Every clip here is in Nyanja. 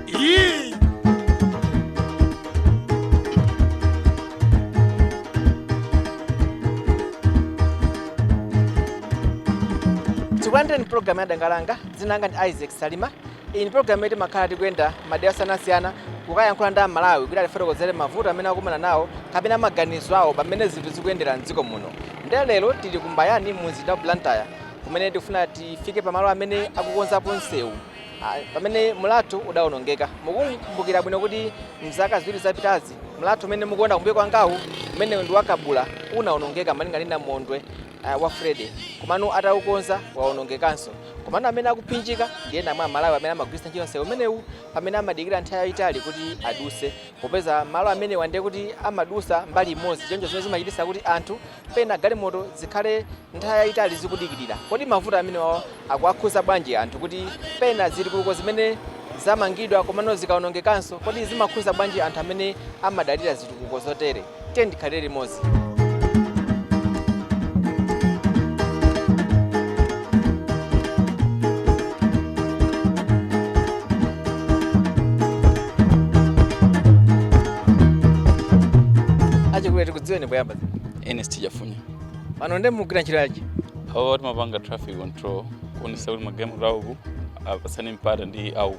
Yee! tikulandireni pulogalamu ya danga langa dzina langa ndi isaac salima iyi ndi pulogalamu yoti timakhala tikuyenda madera osiyanasiyana kukayankhula ndi amalawi kuti atifotokozere mavuto amene akumana nawo kapena maganizo awo pamene zinthu zikuyendera mdziko muno nde lero tili ku mbayani mu mzinda wa blantyre kumene tikufuna tifike pamalo amene akukonzapo msewu ah, pamene mlatho udawonongeka mukumbukira bwino kuti mzaka ziwiri zapitazi mlatho umene mukuona kumbuyo kwangawu umene ndi wa kabula unawonongeka malinga ndi namondwe ah, wa freddy komano ataukonza wawonongekanso komano amene akuphinjika ndi ena mwa amalawi amene amagwiritsa ntchito msewu umenewu pamene amadikira nthawi yayitali kuti aduse popeza malo amenewa ndiye kuti amadusa mbali imodzi choncho zimene zimachititsa kuti anthu pena galimoto zikhale nthawi yayitali zikudikirira. Kodi mavuto amenewa akuwakhudza bwanji anthu kuti pena zitukuko zimene zamangidwa komano zikawonongekanso, kodi zimakhudza bwanji anthu amene amadalira zitukuko zotere? Tiyeni tikhalire limodzi. Achikulire tikudziweni poyamba. ernest chafunya pano nde mugwira ntchito yanji awo timapanga traffic control kuonesa kuti magalimoto auku apasane mpata ndi auku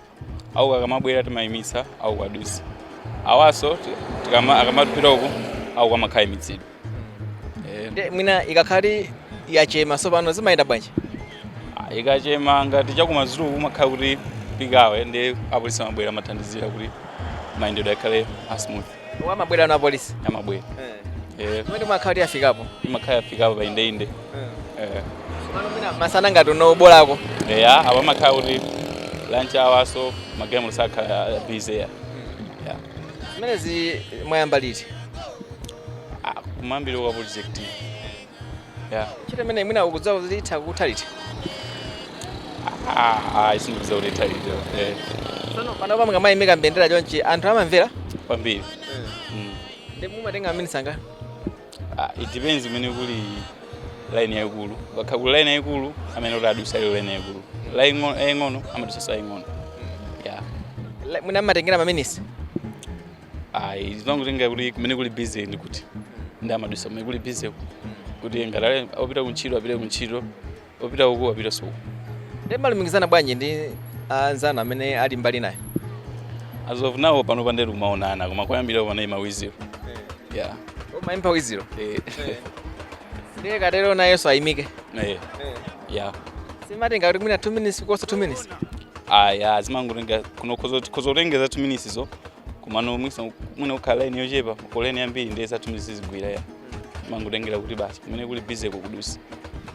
auku akamabwera timayimisa auku adusa awanso ti- tikama- akamapita uku auku amakhala aimitsidwa Eh, nde mwina ikakhala yachema tsopano zimayenda bwanji ah, ikachema ngati chakumadzulo kumakhala kuti peak hour nde apolisi amabwera amathandizira kuti mayendedwe akhale a smooth Amabwera pano apolisi. amabwera Eh, Kumene imakhala kuti yafikapo. imakhala yafikapo pa indeinde Eh, Pano mwina masana ngati uno bolako. eya apa amakhala kuti lunch hour so magalimoto sakhala busy ya Ya. Zimenezi mwayamba liti? Ah, kumayambiriro kwa project Yeah. ntchito imeneyi mwina mukudziwa kuti itha kutha liti Ah, ah, sindikudziwa kuti itha liti. Eh, sono panopa mukamayimika mbendera chonchi anthu amamvera kwambiri. Mm. nde mumatenga maminisi angati Ah, it depends kumene kuli line yaikulu. Pakakhala kuli line yaikulu amene kuti adusa iyo line yaikulu. Line ngo- yaing'ono amadusa sa yaing'ono. Yeah. mwina mmatengera maminisi ayi zimangotengera kuti kumene kuli busy ndi kuti nde amadusa kumene kuli busy ku. kuti ngati ali opita kuntchito apite kuntchito opita uku apite uku nde mumalumikizana bwanji ndi anzanu amene ali mbali inayo as of now panopa nde tikumaonana koma koyambirira panali ma whistle yeah umayimba whistle eh ndiye ukatero nayenso ayimike eh ya simatenga kuti mwina 2 minutes kuposa 2 minutes aya zimangotenga kuno kuzotengeza 2 minutes zo kumano mwisa mwina kukhala line yochepa koleni yambiri ndiye za 2 minutes zigwira ya mangotengera kuti basi kumene kuli busy kukudusa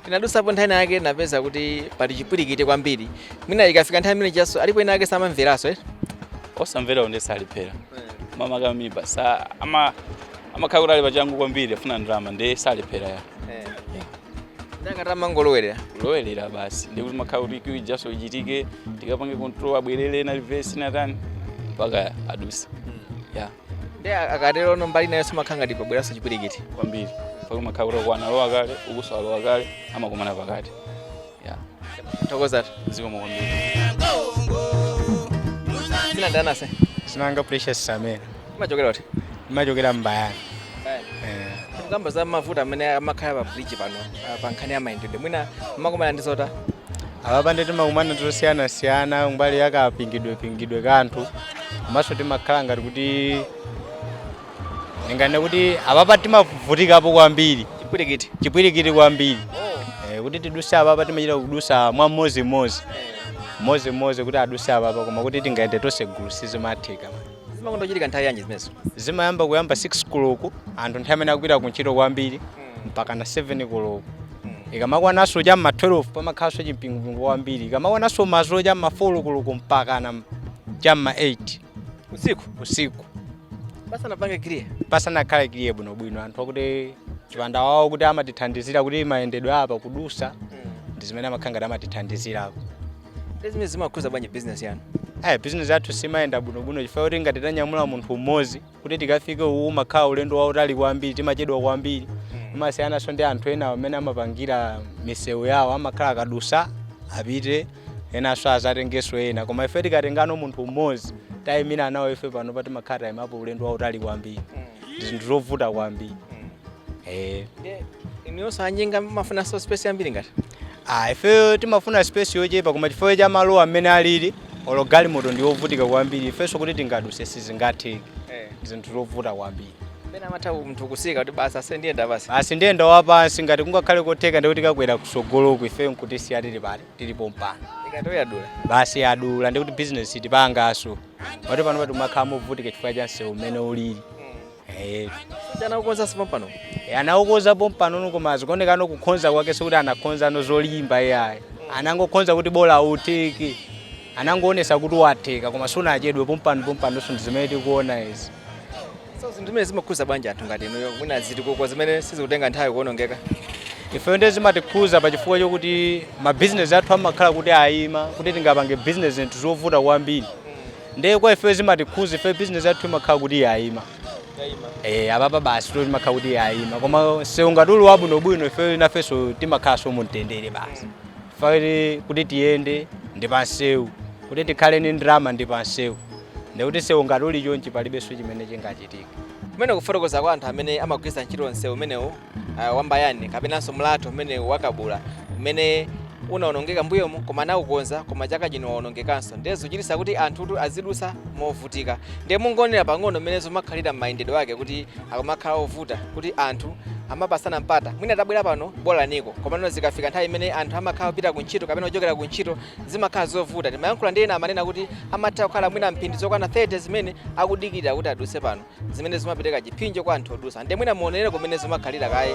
tinadusapo nthawi yake napeza kuti pali chipwirikiti kwambiri mwina ikafika nthawi imene chaso alipo ena ake samamveranso eh? osamvera ndiye salephera mama kama mimi basa ama amakhala kuti ali pachangu kwambiri afuna ndalama ndiye salephera ya ndangati amangolowerera lowerera basi ndiye kuti makhala kuti queue ijaso ichitike tikapange control abwerere na reverse natani mpaka aduse ya ndi akatero ono mbali nayo imakhala ngati pabweranso chipwirikiti kwambiri mpaka makhala kuti akwana lowa kale ukuso alowa kale amakumana pakati yeah. Tathokoza zikomo kwambiri. Dzina ndani ase. dzina langa Precious samene Mumachokera kuti. Ndimachokera Mbayani Kamba za mavuto amene amakhala pa bridge pano ah, pa nkhani ya mayendedwe. Mwina mumakomana ndi zotani. apapa nde timakumana ndi zosiyanasiyana mbali yakapingidwepingidwe kanthu komanso timakhala ngati kuti Ndinganene kuti apapa timavutikapo kwambiri chipwirikiti chipwirikiti kwambiri eh, kuti tiduse apapa timachita kudusa mwa mmodzi mmodzi mmodzi mmodzi kuti aduse apapa koma kuti tingayende tonse gulu sizimatheka zimakonda kuchitika nthawi yanji zimenezo zimayamba kuyamba 6 koloko anthu nthawi imene akupita kuntchito kwambiri mpaka na 7 koloko ikamakwananso cha mma 12 pamakhalanso chimpingupingo kwambiri ikamakwananso madzulo cha mma 4 koloko mpaka na cha mma 8 usiku usiku basa papange clear pasanakhale clear bwinobwino anthu akuti chipanda wawo kuti amatithandizira kuti mayendedwe a pakudusa ndi zimene amakhala ngati amatithandizirako ndezimene zimakhudza bwanji business yanu aya bizinesi yathu simayenda bwinobwino chifukwa kuti ngati tanyamula munthu mmodzi kuti tikafike uwu umakhala ulendo wautali kwambiri timachedwa kwambiri imasiyananso ndi anthu ena amene amapangira misewu yawo amakhala akadusa apite enanso azatengenso ena koma ife tikatengano munthu mmodzi tayimira nawo ife pano timakhala tayimapo ulendo wautali kwambiri ndi zinthu zovuta kwambiri eh inuyo anjinga mumafunanso space yambiri ngati Ah, ife timafuna space yochepa koma chifukwa cha malo amene alili olo galimoto ndi yovutika kwambiri ifenso kuti tingaduse sizingatheke zinthu zovuta kwambiri pena amatha munthu kutsika kuti basi ase ndiyenda basi basi ndiyenda wapansi ngati kungakhale kotheka ndikuti ndikakwera kusogoloku ife nkutisiya tili tili pompano ikatero yadula basi yadula ndikuti bizinesi tipangaso pati pano timakhala movutika chifukwa cha msewu umene ulili Eh, ngati anaukonzanso pompano eh, anaukonza pompanono koma zikuoneka kukonza kwake sikuti anakonzano zolimba iyayi anangokonza kuti bola utheke anangoonesa kuti watheka koma siunachedwe pompano pompano so ndizimene tikuona izi so zinthu zimene zimakhuza bwanji anthu ngati inuyo mwina zitukuko zimene sizikutenga nthawi kuonongeka ifeyo ndiye zimatikhuza pachifukwa chokuti mabizinesi athu amakhala kuti ayima kuti tingapange bizinesi zinthu zovuta kwambiri ndiye kwa ifeyo zimatikhuza ifeyo bizinesi yathu imakhala kuti yayima Eh, apapa basi imakhala kuti yayima koma sewu ngati uli wabwinobwino ifeyo nafenso timakhalanso mumtendere basi ife kuti tiyende ndi pansewu kuti tikhale ndi ndalama ndi pansewu ndikuti sewu ngati uli chonchi palibenso chimene chingachitika kumene kufotokoza kwa anthu amene amagwiritsa ntchito msewu umenewu uh, wa Mbayani kapenanso mlatho umene wa Kabula umene unaonongeka mbuyomu koma anaukonza koma chaka chino waonongekanso ndiye zochitisa kuti anthutu azidusa movutika ndiye mungoona pang'ono mmene zikumakhalira m'mayendedwe ake kuti akumakhala ovuta kuti anthu amapasana mpata mwina tabwera pano bolaniko komano zikafika nthawi imene anthu amakhala kupita kuntchito kapena kuchokera kuntchito zimakhala zovuta ndimayankhula ndi ena amanena kuti amatha kukhala mwina mphindi zokwana 30 zimene akudikirira kuti aduse pano zimene zimapereka chipsinjo kwa anthu odusa ndiye mwina muone kumene zimakhalira kaye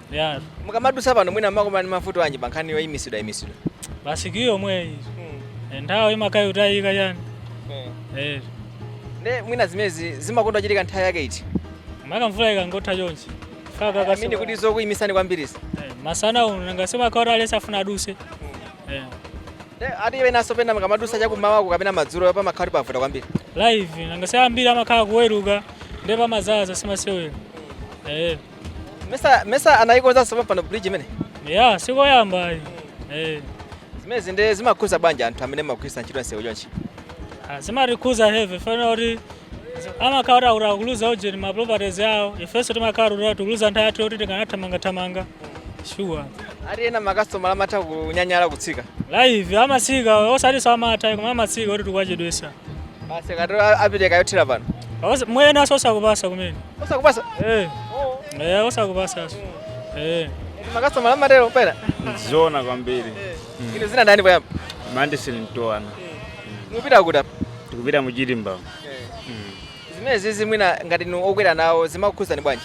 Yeah. Mukamadutsa pano mwina mmakumana ndi mavuto anji pa nkhani yoyimitsidwayimitsidwa. Basi kiyu yomweyo. Eh, Nthawi imakhala ikutayika chani. Eh. Ne mwina zimezi zimakonda kuchitika nthawi yake iti. Maka mvula ikangotha chonchi. Faka kasi. Amene kuti zokuyimitsani kwambiritsa. Eh, masana uno nanga si amakhala aliyense afuna aduse. Eh. Ne ati mwinanso pena mukamadusa chakumawa kapena madzulo pamakhala povuta kwambiri. Live nanga si ambiri amakhala kuweruka ndipo amadzaza si masewera. Eh. nesa nesa anayikonzanso pampano bridge imene ya sikoyamba ayi eh zimezi ndi zimakhuza bwanji anthu amene amagwirisa ntchito nsewu chonchi zimatikhuza heavy chifukwa choti amakhala kuti akuluza ujeni ma properties yawo ifenso timakhala kuti tikuluza nthawi yathu yoti tikanathamangathamanga shuwa ati ena makasitomala amatha kunyanyala kutsika live amasika osatinso amatha koma amasika kuti tikuwachedwesa Basi akatero apite kayothera pano. Awasa- mwinanso osakupasa kumene Osakupasa. Eh, eh, osakupasanso Eh. Makasitomala amatero pena. Zoona kwambiri. Inu dzina ndani poyamba? Mandisi nitoana. Mupita kuti apa? Tikupita mu Chirimba. Zimene izi mwina ngati inu okwera nawo zimakukhudzani bwanji?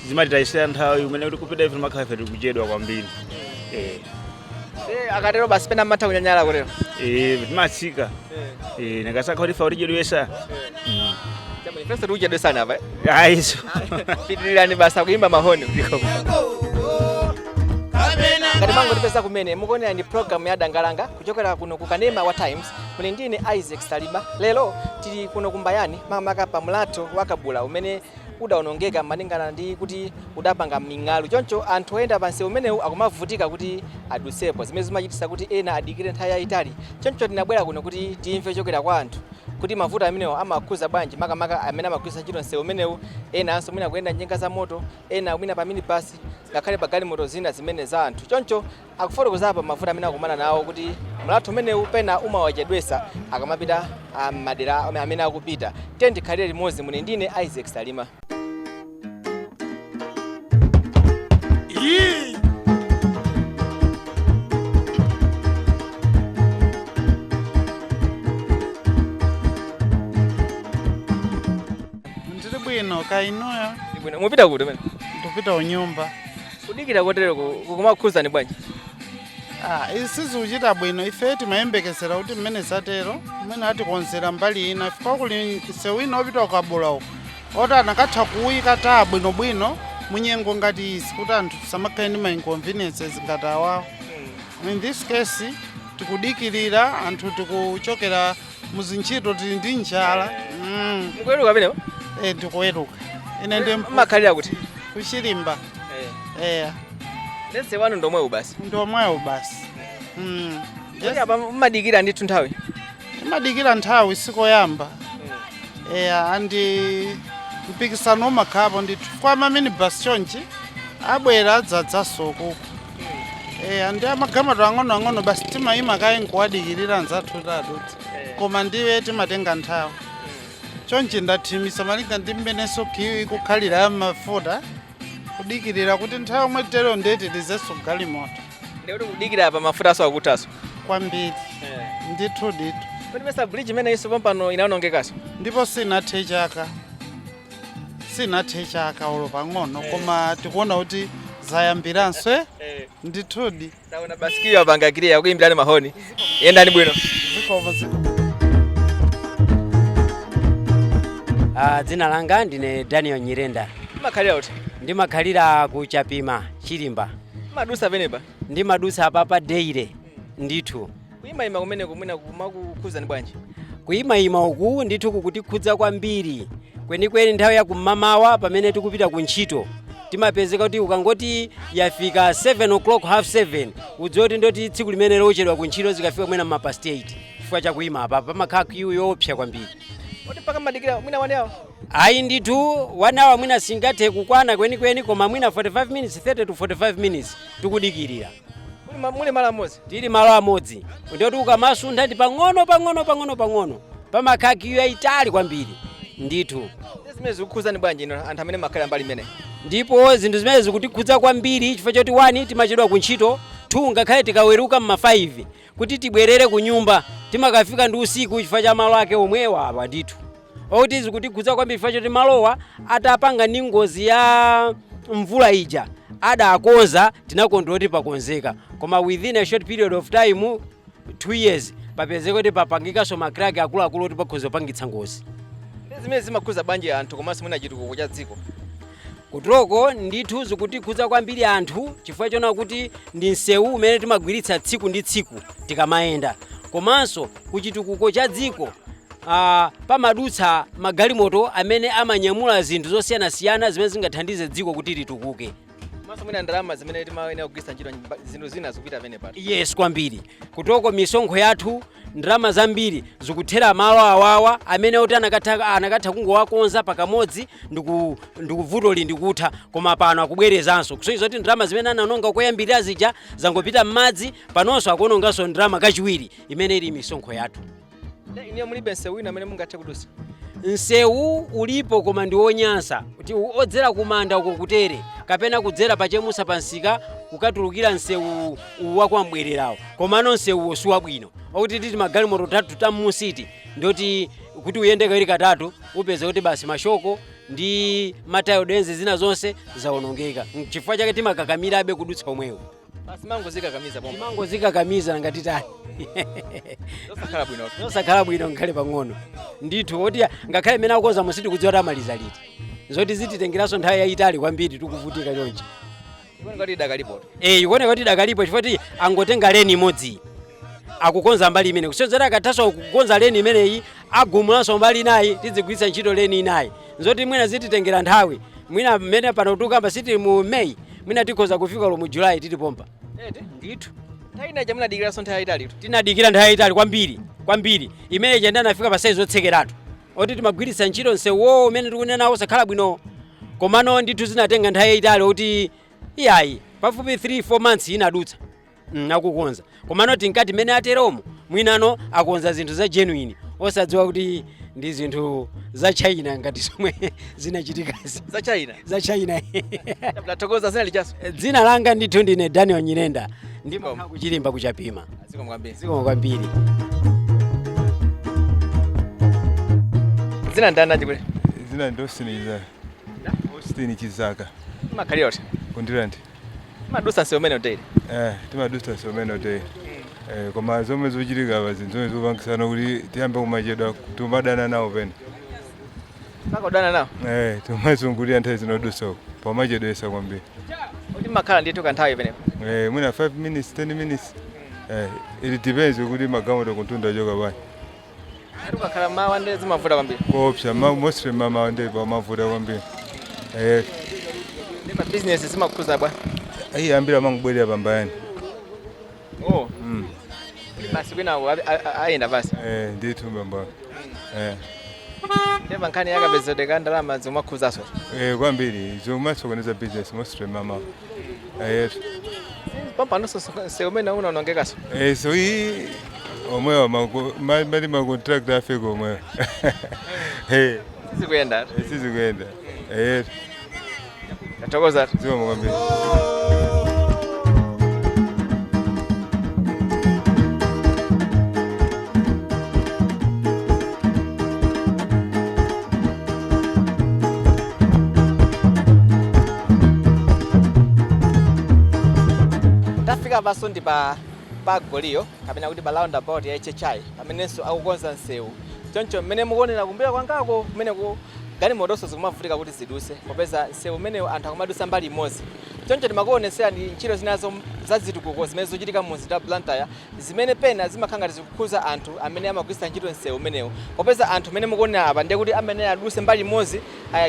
Zimatitayisira nthawi imene tikupita ife timakhala ife tikuchedwa kwambiri. Eh. Eh, akatero basi pena mmatha kunyanyala kutero Eh, timatsika Eh, nakasakha kuti fa kutichedwesa Chabwino, ifenso tikuchedwesani apa eh? ayi pitirirani basi akuyimba mahoni ngati mwangotipeza kumene mukuonera ndi programu ya dangalanga kuchokera kuno ku kanema wa times muli ndine isaac salima lero tili kuno kumbayani makamaka pa mlatho wa kabula umene udaonongeka malingana ndi kuti udapanga ming'alu choncho anthu oyenda pa msewu umenewu akumavutika kuti adutsepo zimene zimachititsa kuti ena adikire nthawi yayitali choncho tinabwera kuno kuti timve kuchokera kwa anthu kuti mavuto amenewo amawakhudza bwanji makamaka amene amagwiritsa ntchito msewu umenewu enanso mwina kuyenda njinga za moto ena mwina pa minibasi ngakhale pa galimoto zina zimene za anthu choncho Akufotokoza apa mavuto amene akumana nawo kuti mlatho umenewu pena umawachedwetsa akamapita ah, m'madera amene akupita. Tiyeni tikhalire limodzi muli ndine Isaac Salima. Ndiri bwino kaya inuyo Ndibwino. Mupita kuti mmene? ndikupita kunyumba Kudikira kotereku kukumakukhudzani bwanji? Ah, izi sizikuchita bwino ife timayembekezera kuti mmene zatero mmene atikonzera mbali ina chifukwa kuli msewu wina wopita kukabula uko oti akanatha kuwuyika tara bwinobwino munyengo ngati izi kuti anthu tisamakhale ndi ma inconveniences ngati awawo in this case tikudikirira anthu tikuchokera muzintchito tili ndi njala mm. mukuweruka pamenepo eh, ndikuweruka ine ndi mpu- makhalira kuti kuchilimba eya ndiye nsewu wanu ndomwewu basi ndomwewo basi mm. Kodi apa mumadikira ndithu nthawi timadikira nthawi sikoyamba eya andi mpikisano umakhalapo ndithu kwa maminibus chonchi abwera adzadzaso uko eya ndi amagalimoto ang'onoang'ono basi timayima kaye nkuwadikirira anzathu kuti adutse koma ndiye timatenga nthawi chonchi ndathimisa malinga ndi mmenenso kiyu ikukhalira ya mafuta kudikirira kuti nthawi yomwe tero ndiye kuti tilizenso galimoto ndiye kuti kudikira pa mafuta awoso akuthaso kwambiri ndithu ndithu kodi mesa bridge imeneyinso pompano inaonongekaso ndipo sinathe chaka sinathe chaka olo pang'ono koma tikuona kuti zayambiranso eh? ndithudi Taona basi kiyu apanga kiliya akuimbirani mahoni. Yendani bwino. zikomo zikomo Ah, dzina langa ndine daniel nyirenda Mmakhalira kuti. ndimakhalira ku chapima chilimba Mmadutsa pamenepa. ndimadutsa apapa daily ndithu Kuyimayima kumeneko mwina kumakukhudzani bwanji? Kuyimayima uku ndithu kukutikhudza kwambiri kwenikweni nthawi ya kum'mamawa pamene tikupita ku ntchito timapezeka kuti ukangoti yafika 7 o'clock half 7 udziwe kuti ndi oti tsiku limenelo uchedwa ku ntchito zikafika mwina mma past 8 chifukwa chakuyima apa pamakhala kiyu yoopsa kwambiri Kodi mpaka mmadikira mwina 1 hour? ayi ndithu 1 hour mwina singathe kukwana kwenikweni koma mwina 45 minutes 30 to 45 minutes tikudikirira Muli ma- muli malo amodzi tili malo amodzi ndiyoti ukamasuntha ndi pang'ono pang'ono pang'ono pang'ono pamakhala kiyu yayitali kwambiri ndithu Zimenezi zikukhuzani bwanji inu anthu amene mumakhala mbali imeneyi ndipo zinthu zimene zikutikhudza kwambiri chifukwa choti 1 timachedwa ku ntchito 2 ngakhale tikaweruka mma 5 kuti tibwerere ku nyumba timakafika ndi usiku chifukwa cha malo ake omwewa apa ndithu okuti zikutikhudza kwambiri chifukwa choti malowa atapanga ndi ngozi ya mvula ija adakonza tinakondwera kuti pakonzeka koma within a short period of time two years papezeka kuti papangikanso makraki akuluakulu kuti pakhoza kupangitsa ngozi zimenezi zimakhudza bwanji anthu komanso mwina chitukuko cha dziko Kutoko ndithu zikutikhudza kwambiri anthu chifukwa chona kuti ndi msewu umene timagwiritsa tsiku ndi tsiku tikamayenda komanso kuchitukuko cha dziko ah, pamadutsa magalimoto amene amanyamula zinthu zosiyanasiyana zimene zingathandize dziko kuti litukuke komanso mwina ndalama zimene timayenera kugwiritsa ntchito mba- zinthu zina zikupita pamenepa eti yes kwambiri kutoko misonkho yathu Ndalama zambiri zikuthera malo awawa amene oti anakatha, anakatha kungowakonza pakamodzi ndiku- ndikuvuto lindikutha koma pano akubwerezanso kusonyeza kuti ndalama zimene ananonga koyambirira zija zangopita m'madzi panonso akuononganso ndalama kachiwiri imene ili misonkho yathu Ne- Inu mulibe nsewu wina amene mungathe kudusa. nsewu ulipo koma ndi wonyansa kuti u- odzera kumanda uko kutere kapena kudzera pachemusa pansika kukatulukira nsewu uwu wa kwa mbwererawo komano nsewuwo si wabwino okuti titi magalimoto tatu ta mmusiti ndoti kuti uyende kawiri katatu upeza kuti basi mashoko ndi ma tie rod ends zina zonse zawonongeka chifukwa chake timakakamirabe kudutsa omwewo basi mumangodzikakamiza pomwe timangodzikakamiza nanga titani zosakhala bwino zosakhala bwino ngakhale pang'ono ndithu oti ngakhale mmene akukonzamu sitikudziwa kuti amaliza liti zoti zititengeranso nthawi yayitali kwambiri tikuvutika chonchi ikuoneka kuti idakalipo eh ikuoneka kuti idakalipo chifukwa kuti angotenga leni imodzi akukonza mbali imeneyi kusonyeza akathanso kukonza leni imeneyi agumulanso mbali inayi tidzigwiritsa ntchito leni inayi zoti mwina zititengera nthawi mwina mmene pano tikukamba si tili mu may mwina tikhoza kufika lo mu july tili pompa ndithu nthawi inaja munadikiranso nthawi yayitalitu tinadikira nthawi yayitali kwambiri kwambiri imene ija nde anafika pa saizi otsekeratu oti timagwiritsa ntchito msewuwo umene tikunenawo osakhala bwino komano ndithu zinatenga nthawi yayitali kuti iyayi pafupi 3 4 months inadutsa mm, akukonza komano tinkati mmene ateromo mwinano akonza zinthu za genuine osadziwa kuti ndi zinthu za china ngati zomwe zinachitikazi za china za china ndathokoza dzina lijaso dzina langa ndithu ndine daniel nyirenda ndi wa ku chirimba ku chapima zikomo kwambiri zikomo kwambiri dzina ndani achikulire dzina ndi austin chizaka austin chizaka makhalira kuti ku ndirande madusa nsewu umenewu daily eh timadusa nsewu umenewu daily eh koma zomwe zochitika apa zinthu zomwe zikupangitsano kuti tiyambe kumachedwa timadana nawo pena Mpaka kudana nawo? Eh, timazungulira nthawi zina kudusa uko. Pamachedwesa kwambiri. Kuti makhala ndithu kanthawi imeneyo. Eh, mwina 5 minutes, 10 minutes. Eh, it depends kuti magalimoto kuntunda achoka bwanji. Kuti kukakhala mmawa nde zimavuta kwambiri. Koopsa, ma- mostly mamawa ndi pamavuta kwambiri. Eh, Ndi pa business zimakhuza bwa. ayi ambiri amangobwerera pa Mbayani. Oh. Mm. Basi kwinako abi- a- a- ayenda basi. Eh, ndithu bambo. Eh. Nde pa nkhani yakapezedwe ka ndalama zimakhuzaso. Eh, kwambiri zimasokoneza business mostly mamawa. Eh, yes. Pampano nsewu umenewu unaonongekaso. Eh, so hii omwewa maku- ma- mali macontract a fake omwewa. Eh, Sizikuyenda. sizikuyenda. Eh, yes. Tathokoza zikomo kwambiri. tafika apanso ndi pa pa goliyo kapena kuti pa roundabout ya hhi pamenenso akukonza msewu choncho mmene mukuonera kumbuyo kwangako kumeneko Galimotonso zikumavutika kuti zidutse popeza msewu umenewu anthu akumadutsa mbali imodzi. Choncho timakuonetserani ntchito zinazo za zitukuko zimene zikuchitika mu mzinda wa Blantyre zimene pena zimakhala ngati zikukhudza anthu amene amagwiritsa ntchito msewu umenewu popeza anthu amene mukuonera apa ndiye kuti amayenera adutse mbali imodzi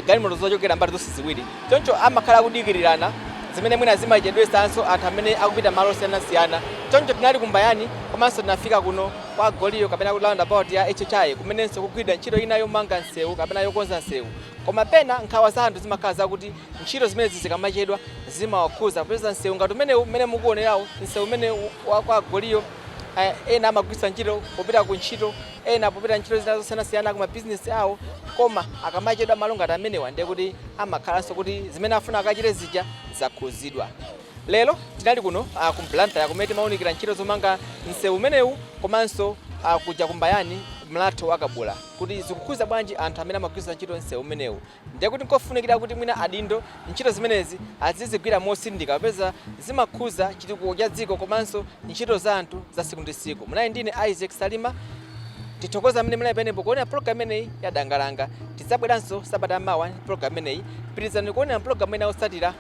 galimoto zochokera mbali zonse ziwiri. Choncho amakhala akudikirirana zimene mwina zimachedwetsanso anthu amene akupita malo osiyanasiyana. Choncho tinali ku Mbayani komanso tinafika kuno. kwa Goliyo kapena kuti roundabout ya HHI kumenenso kugwidwa ntchito ina yomanga msewu kapena yokonza msewu. Koma pena nkhawa za anthu zimakhala zakuti ntchito zimenezi zikamachedwa zimawakhudza popeza msewu ngati umenewu mmene mukuonerawu, msewu umene wa kwa Goliyo eh, ena amagwiritsa ntchito popita ku ntchito, ena popita ntchito zina zosiyanasiyana ku mabizinesi awo. Koma akamachedwa malo ngati amenewa ndiye kuti amakhalanso kuti zimene afuna akachite zija zakhudzidwa. Lero tinali kuno ku Blantyre kumene timaunikira ntchito zomanga msewu umenewu komanso kuja ku Mbayani, mlatho wa Kabula kuti zikukhudza bwanji anthu amene amagwiritsa ntchito msewu umenewu. Ndiye kuti n'kofunikira kuti mwina adindo ntchito zimenezi azizigwira motsindika popeza zimakhudza chitukuko cha dziko komanso ntchito za anthu za tsiku ndi tsiku. Munali ndi ine Isaac Salima. Tithokoze amene munali pamenepo kuonera pulogalamu imeneyi ya Danga Langa. Tidzabweranso sabata ya mawa ndi pulogalamu imeneyi. Pitirizani kuonera mapulogalamu ena otsatira.